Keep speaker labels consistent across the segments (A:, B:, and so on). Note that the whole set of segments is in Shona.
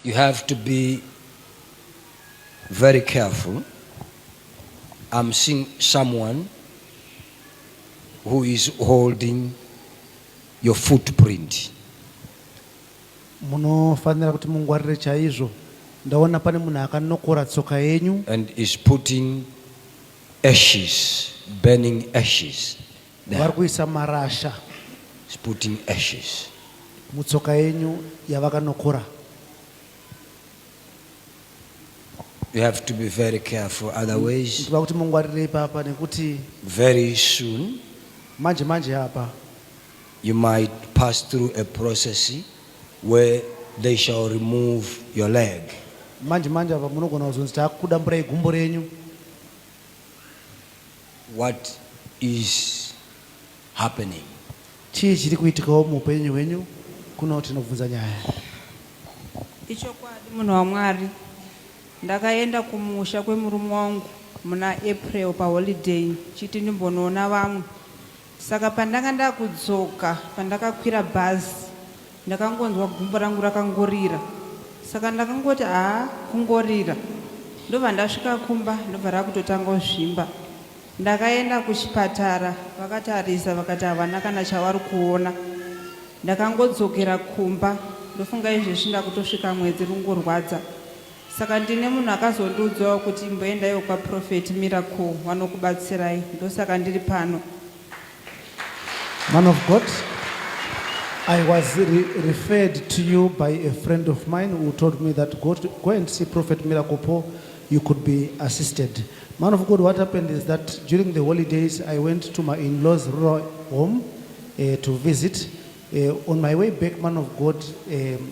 A: You have to be very careful. I'm seeing someone who is holding your footprint.
B: Munofanira kuti mungwarire chaizvo. Ndaona pane munhu akanokora tsoka yenyu. And is putting
A: ashes, burning ashes. vari kuisa
B: marasha putting
A: ashes mutsoka
B: yenyu yavakanokora
A: You have to be very careful otherwise. Ndiba kuti mungwarirei
B: papa nekuti very
A: soon manje manje
B: apa you
A: might pass through a process where they shall remove your leg. Manje manje apa
B: munogona kuzonzi takuda mburai gumbo renyu.
A: What is happening? Chii
B: chiri kuitikawo muupenyu hwenyu kuno tinobvunza nyaya. Ichokwadi
C: munhu waMwari. Ndakaenda kumusha kwemurume wangu muna April paholiday ndichiti ndimbonoona vamwe. Saka pandanga ndakudzoka pandakakwira bhazi ndakangonzwa gumbo rangu rakangorira saka ndakangoti haa kungorira ndobva ndasvika kumba ndobva rakutotanga kuzvimba ndakaenda kuchipatara vakatarisa vakati havana kana chavari kuona ndakangodzokera kumba ndofunga izvezvi ndakutosvika mwedzi rungorwadza Saka ndine munhu akazondiudzawo kuti imboendaiwo kwaProphet Miracle wanokubatsirai. Ndosaka ndiri pano.
B: Man of God, I was re referred to you by a friend of mine who told me that go, to, go and see Prophet Miracle Paul, you could be assisted. Man of God, what happened is that during the holidays, I went to my in law's rural home uh, to visit. Uh, on my way back, man of God, um,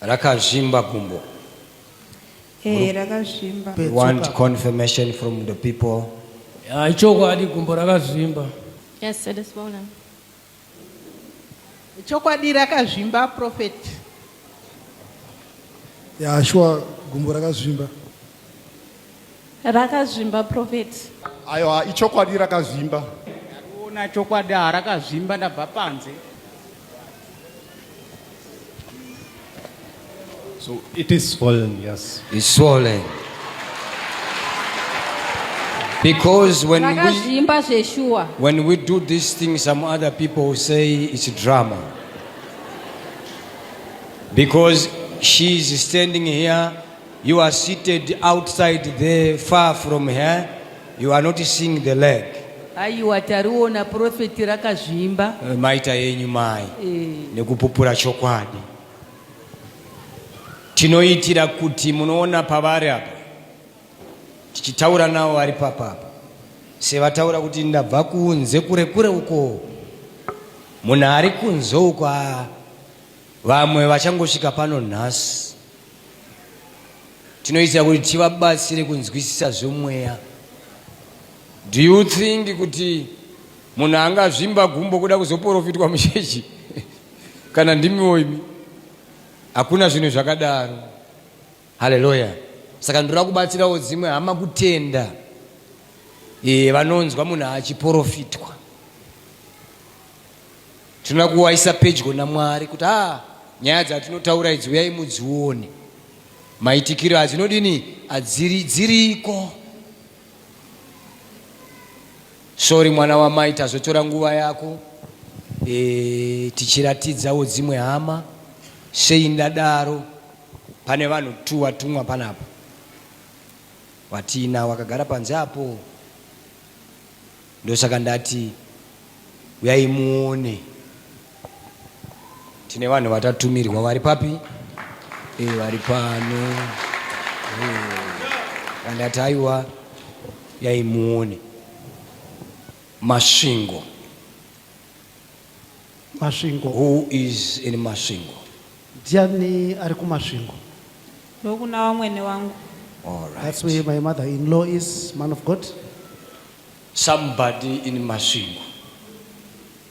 A: Rakazvimba gumbo. Ehe rakazvimba.
C: We want confirmation
A: from the people. Ah, ichokwadi
D: gumbo rakazvimba. Yes, it is
E: swollen.
F: Ichokwadi rakazvimba prophet.
G: Yeah, sure gumbo rakazvimba.
E: Rakazvimba prophet. Ayo
H: ichokwadi rakazvimba. Ndariona
F: chokwadi harakazvimba ndabva panze.
I: So it is swollen, yes. It's swollen.
A: Because when we, when we do this thing, some other people say it's drama. Because she is standing here You are seated outside there far from her. You are not seeing the leg. Aiwa tariona
F: prophet rakazvimba. Eh, maita yenyu
A: mai eh. nekupupura chokwadi. Tinoitira kuti munoona pavari apa tichitaura navo vari papapa sevataura kuti ndabva kunze kure kure uko munhu ari kunze uko vamwe vachangosvika pano nhasi tinoita kuti tivabatsire kunzwisisa zvemweya do you think kuti munhu angazvimba gumbo kuda kuzoporofitwa muchechi kana ndimiwo imi hakuna zvinhu zvakadaro haleluya saka ndoda kubatsirawo dzimwe hama kutenda e, vanonzwa munhu achiporofitwa Tinoda kuwaisa pedyo naMwari kuti ah nyaya dzatinotaura idzi uyai mudzione. Maitikiro adzinodini adziri dziriko. Sorry mwana wamai tazotora nguva yako. E, tichiratidzawo dzimwe hama sei ndadaro pane vanhu tu watumwa panapa watina wakagara panze apo Ndosaka ndati huyai muone. Tine vanhu vatatumirwa vari papi? E, vari pano. E, ndati aiwa huyai muone. Masvingo.
B: Masvingo. Who is
A: in Masvingo? Ndiani
B: ari kuMasvingo? Ndokuna
C: vamwene wangu. All right. That's
A: where my mother-in-law
B: is, man of God.
A: Somebody in Masvingo.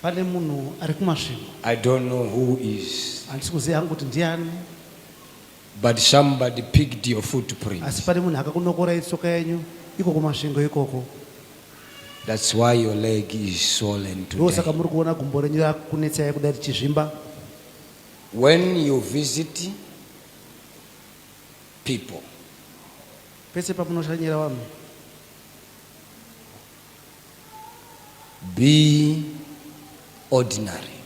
B: Pane munhu ari kuMasvingo. I don't know
A: who is. Handisi kuziva hangu kuti
B: ndiani.
A: But somebody picked your footprint. Asi pane munhu akakunokora
B: itsoka yenyu iko kuMasvingo ikoko.
A: That's why your leg is swollen today. Ndosaka muri kuona gumbo renyu
B: rakunetsai kudai richizvimba.
A: When you visit people.
B: Pese pamunoshanyira vanhu.
A: be ordinary.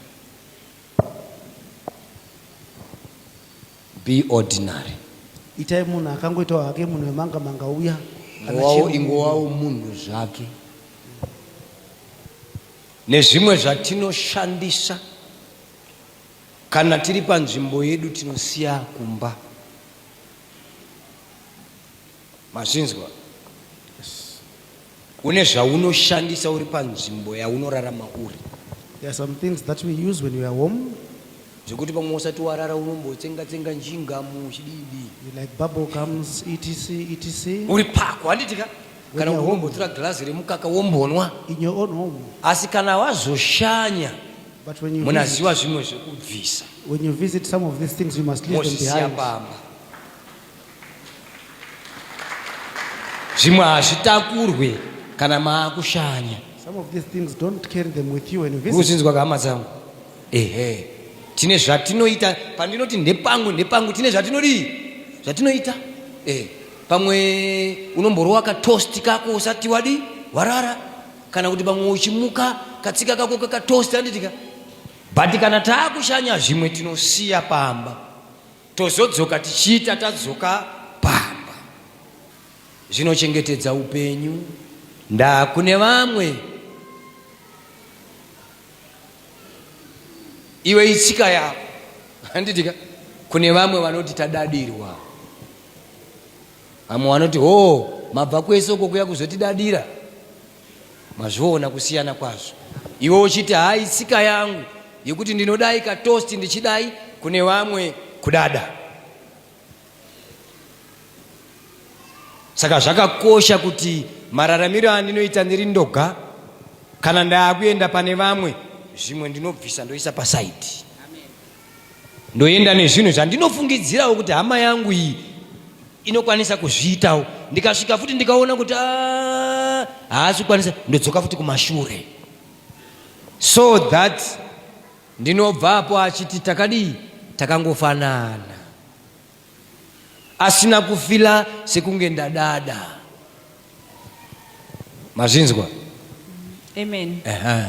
A: Be ordinary. itai munhu
B: akangoitawo hake munhu wemanga manga uya kana Ngowawo chero- ingowawo
A: munhu zvake. Nezvimwe zvatinoshandisa kana tiri panzvimbo yedu tinosiya kumba. Mazvinzwa? Yes. Une zvaunoshandisa uri panzvimbo yaunorarama uri. There are some things
B: that we use when we are home. Zvekuti pamwe
A: usati warara unombotsenga tsenga njingamu chididi. You like bubble
B: gums etc etc. Uri pako handiti
A: ka? Kana unombotura glass remukaka wombonwa. In your own home.
B: Asi kana
A: wazoshanya But when you
B: munaziwa zvimwe zvekubvisa.
A: When you visit
B: some of these things you must leave them behind. Mosisiya pamba.
A: zvimwe hazvitakurwe kana maakushanya
B: uzinzwa hama dzangu
A: ehe tine zvatinoita pandinoti ndepangu ndepangu tine zvatinodii zvatinoita eh pamwe unomborowa katosti kako usati wadi warara kana kuti pamwe uchimuka katsika kako kakatosti anditika but kana taakushanya zvimwe tinosiya pamba Tozodzoka tichiita tadzoka pamba. Zvinochengetedza upenyu. Ndaa kune vamwe. Iwe itsika yako. Handitika kune vamwe vanoti tadadirwa. Vamwe vanoti hoo mabva kwese uko kuya kuzotidadira. Mazviona kusiyana kwazvo iwe uchiti hayi tsika yangu yekuti ndinodai katosti ndichidai kune vamwe kudada. Saka zvakakosha kuti mararamiro andinoita ndiri ndoga kana ndaakuenda pane vamwe zvimwe ndinobvisa ndoisa pasaidi. ndoenda nezvinhu zvandinofungidzirawo kuti hama yangu iyi inokwanisa kuzviitawo ndikasvika futi ndikaona kuti ah, haasi kukwanisa ndodzoka futi kumashure so that ndinobva apo achiti takadii takangofanana asina kufila sekunge ndadada mazvinzwa
C: amen uh -huh.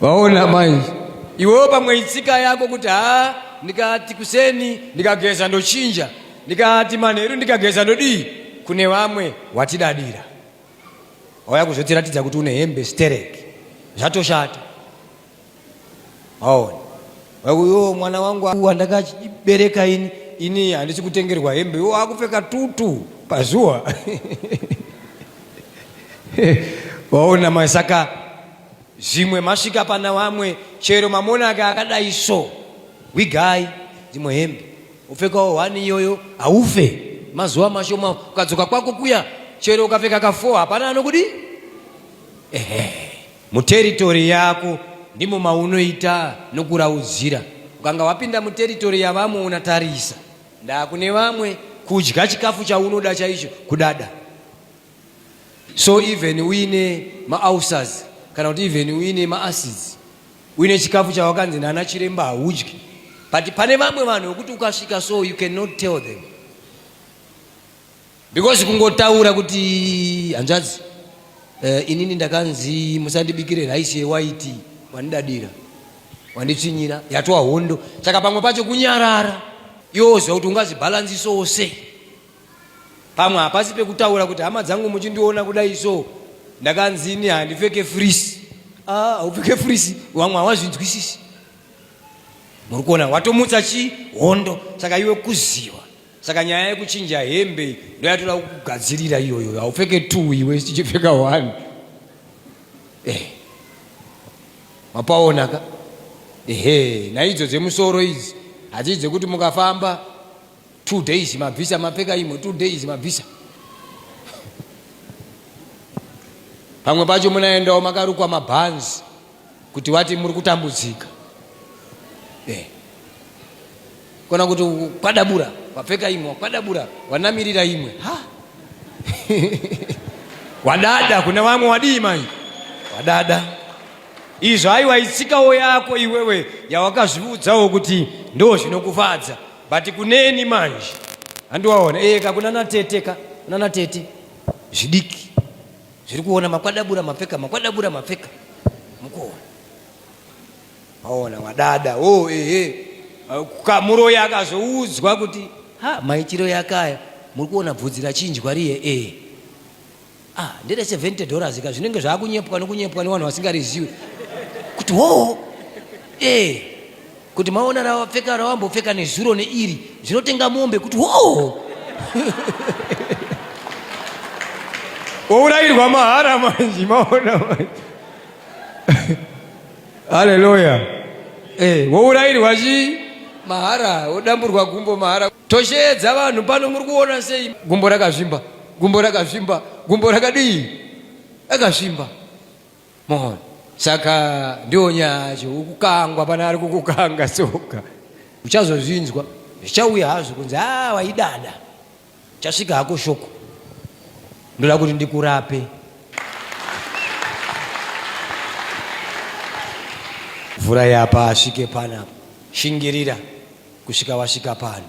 A: vaona mai iwewo pamwe itsika yako kuti haa ndikati kuseni ndikageza ndochinja ndikati manheru ndikageza ndodii kune vamwe watidadira wauya kuzotiratidza kuti une hembe sterek zvatoshata Maona. Vakuyo mwana wangu wandakabereka ini ini handisi kutengerwa hembe iwo akupfeka tutu pazuwa waona mai saka zvimwe masvika pana vamwe chero mamona ake akadai so wigai dzimwe hembe upfekawo hwani iyoyo haufe mazuva mashoma ukadzoka kwako kuya chero ukapfeka kafo hapana anokudi ehe Muteritori yako ndimo maunoita nokuraudzira. Ukanga wapinda muteritori yavamwe unatarisa ndaa kune vamwe kudya chikafu chaunoda chaicho kudada so even uine maulcers kana kuti even uine maacids uine chikafu chawakanzi nana chiremba haudyi but pane vamwe vanhu vekuti ukasvika so you cannot tell them because kungotaura kuti hanzvadzi uh, inini ndakanzi musandibikire raisi yewaiti wandidadira wanditsvinyira yatwa hondo saka pamwe pacho kunyarara yoziva kuti ungazvibhalansisowo sei pamwe hapasi pekutaura kuti hama dzangu muchindiona kudai so ndakanzi ini handipfeke frisi ah, haupfeke frisi vamwe hawazvinzwisisi muri kuona watomutsa chi hondo saka iwe kuziva Saka nyaya yekuchinja hembe ndoyatoda kugadzirira iyoyo, haupfeke two iwe tichipfeka one. Eh, mapaona ka ehe, naidzo dzemusoro idzi hadzii dzekuti mukafamba two days mabvisa mapfeka imwe two days mabvisa pamwe pacho munaendawo makarukwa mabhanzi kuti wati muri kutambudzika eh. kona kuti kwadabura wapfeka imwe wakwadabura wanamirira imwe ha wadada kuna vamwe wadii mai wadada izvo aiwa itsikawo yako iwewe yawakazviudzawo kuti ndo zvinokufadza but kuneni manje handiwaona eka eh, kuna nateteka kuna natete zvidiki zviri kuona makwadabura mapfeka makwadabura mapfeka mukuona aona wadada o oh, ehe eh. kamuro yakazoudzwa kuti ha maitiro yakaya muri kuona bvudzi rachinjwa riye e eh. ah ndere 70 dollars ka zvinenge zvakunyepwa nokunyepwa nevanhu vasingariziwi kuti hoo e eh. Kuti maona rawapfeka rawambopfeka nezuro neiri zvinotenga mombe kuti hoo. Wourayirwa mahara manje maona manje. Hallelujah. Eh, wourayirwa chii? mahara wodamburwa gumbo mahara tosheedza vanhu pano muri kuona sei gumbo rakazvimba gumbo rakazvimba gumbo rakadii rakazvimba mohon saka ndiwo nyacho ukukangwa pane ari kukukanga soka uchazozvinzwa zvichauya hazvo kunzi a ah, waidada chasvika hako shoko ndoda kuti ndikurape mvura yapa asvike panapa shingirira kusvika wasvika pano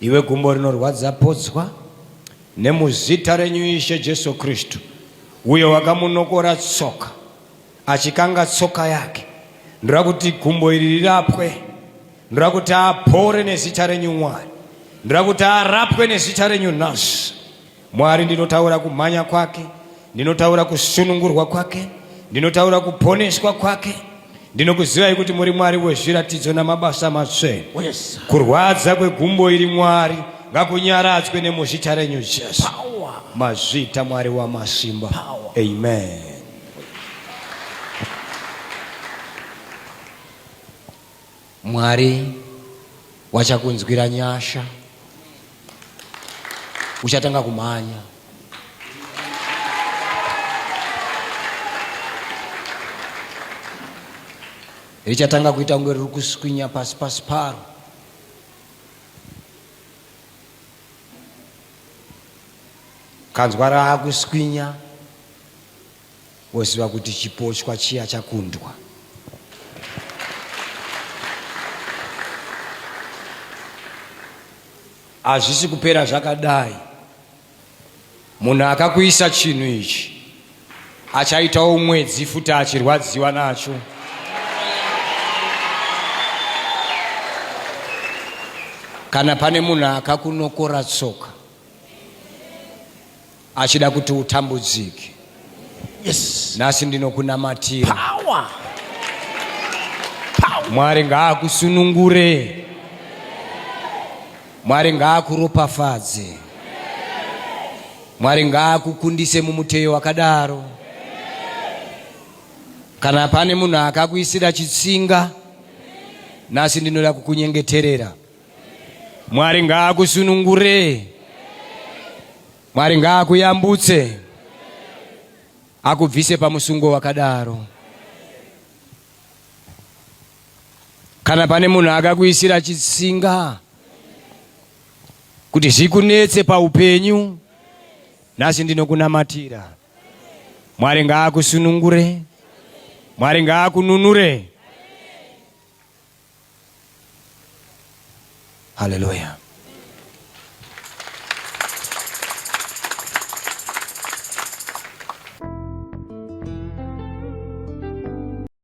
A: Iwe gumbo rinorwadza podzwa nemuzita renyu Ishe Jesu Kristu, uyo wakamunokora tsoka achikanga tsoka yake. Ndoda kuti gumbo iri rirapwe, ndoda kuti apore nezita renyu Mwari, ndoda kuti arapwe nezita renyu nhasi. Mwari, ndinotaura kumhanya kwake, ndinotaura kusunungurwa kwake, ndinotaura kuponeswa kwake. Ndinokuzivai kuti muri Mwari wezviratidzo namabasa matsvene. Oh, yes. Kurwadza kwegumbo iri Mwari ngakunyaradzwe nemuzita renyu Jesu. Power. Mazvita Mwari wamasimba. Power. Amen. Mwari wachakunzwira nyasha. Uchatanga kumhanya. Richatanga kuita kunge riri kuswinya pasi pasi paro. Kanzwa raakuswinya. Woziva kuti chipochwa chiya chakundwa. Hazvisi kupera zvakadai. Munhu akakuisa chinhu ichi achaitawo mwedzi futi achirwadziwa nacho. Kana pane munhu akakunokora tsoka achida kuti utambudzike yes. nhasi ndinokunamatira mwari ngaakusunungure mwari ngaakuropafadze mwari ngaakukundise mumuteyo wakadaro kana pane munhu akakuisira chitsinga nhasi ndinoda kukunyengeterera Mwari ngaakusunungure. Mwari ngaakuyambutse. Akubvise pamusungo wakadaro. Kana pane munhu akakuisira chitsinga kuti zvikunetse paupenyu, nhasi ndinokunamatira. Mwari ngaakusunungure. Mwari ngaakununure. Hallelujah.